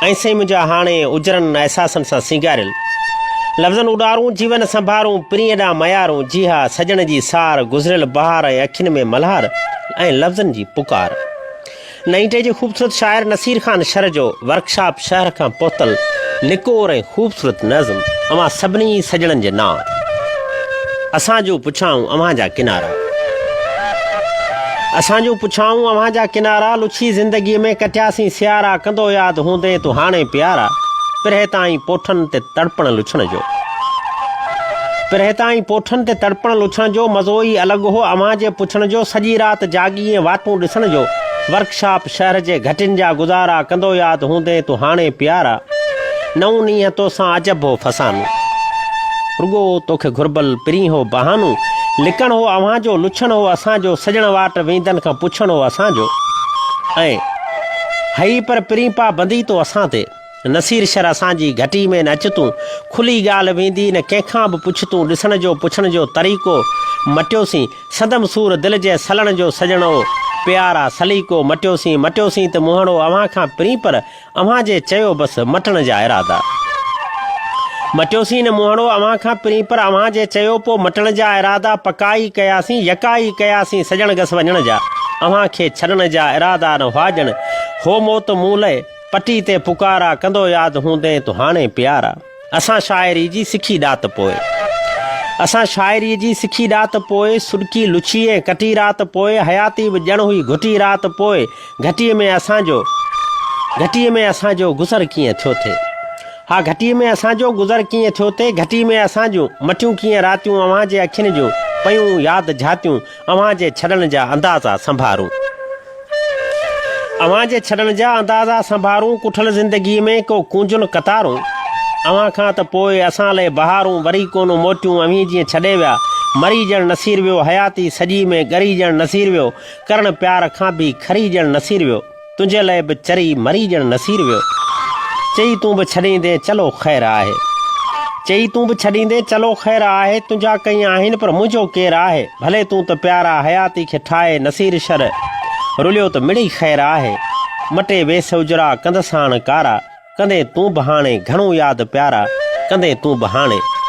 ۽ سائين منهنجا هاڻي اجرن احساسن سان سينگاريل لفظن اڏارون جيون سنڀارون پرينء ڏانهن ميارون جي ها سڄڻ جي سار گذريل بهار ۽ اکين ۾ ملهار ۽ لفظن جي پڪار نئين ٽي جي خوبصورت شاعر نصير خان شر جو ورڪشاپ شهر کان پهتل نڪور ۽ خوبصورت نظم اوهان سڀني سڄڻن جي نان اسان جون پڇائون اوهان جا ڪنارا اسان جون پڇائون اوهان جا ڪنارا لڇي زندگي ۾ ڪٽياسين سيارا ڪندو ياد هوندين تون هاڻي پيارا پرهه تائين پوٺن تي تڙپڻ لڇڻ جو پرهه تائين پوٺن تي تڙپڻ لڇڻ جو مزو ئي الڳ هو اوهان جي پڇڻ جو سڄي رات جاڳي ۽ واتون ڏسڻ جو ورڪشاپ شهر جي گهٽين جا گذارا ڪندو ياد هوندين تون هاڻي پيارا نئون نينهن توسان عجب هو فسانو رڳو توکي گهربل پرين هو بهانو لڪڻ هو اوهان جو لڇڻ هو اسان جو سڄڻ واٽ ويندن کان پڇڻ هو اسان جو ۽ هئي پر پرين پا بندي تو اسان تي. نصير شر اسان جي گهٽي ۾ نه اچ تون کلي ڳالهه ويندي نه ڪنهن کان به پڇ تون ڏسڻ جو پڇڻ جو طريقو مٽيوسين سندم سور دل جي سلڻ جو سڄڻ او پيارا سليقو مٽيوسين مٽيوسين ته مهڻو اوهان کان پرين پر اوهان جي چيو بس مٽڻ جا ارادا مٽيوسين نه مهڻو اوهان کان پرين پر اوهان جي چيو پو مٽڻ جا ارادا پڪا ئي ڪياسين يڪا ئي ڪياسين سڄڻ گس وڃڻ جا اوهان کي ڇڏڻ جا ارادا نه هئا ڄڻ هو موت مون لئه پٽي تي پڪارا ڪندو ياد هوندين تو هاڻي پيارا اسان شاعري جي سکي ڏات پوء اسان شاعري جي سکي ڏات پوء سڏڪي لڇي ۽ ڪٽي رات پوء حياتي به ڄڻ هئي گهٽي رات پوء گهٽي ۾ اسان جو گهٽي ۾ اسان جو گذر ڪيئن ٿيو ٿي ها گهٽي ۾ اسان جو گذر ڪيئن ٿيو ٿي گهٽي ۾ اسان جون مٺيون ڪيئن راتيون اوهان جي اکين جون پيون ياد جهاتيون اوهان جي ڇڏڻ جا اندازا سنڀارون. اوهان جي ڇڏڻ جا اندازا سنڀارون ڪٺل زندگي ۾ ڪو ڪونجون قطارون اوهان کان ته پوء اسان لئي بهارون وري ڪونه موٽيون اوهين جيئن ڇڏي ويا مري ڄڻ نصير ويو حياتي سڄي ۾ ڳري ڄڻ نصير ويو ڪرڻ پيار کان به کري ڄڻ نصير ويو. تنهنجي لئه به چري مري ڄڻ نصير ويو. چئي تون به ڇڏيندين چلو خير آهي. چئي تون به ڇڏيندين چلو خير آهي تنهنجا ڪئين آهن پر منهنجو ڪير آهي ڀلي تون ته پيارا حياتي کي ٺاهي نصير شر رليو ته مڙئي خير آهي مٽي ويس اجرا ڪندس هاڻ ڪارا ڪندين تون به هاڻي گهڻو ياد پيارا ڪندين تون به هاڻي.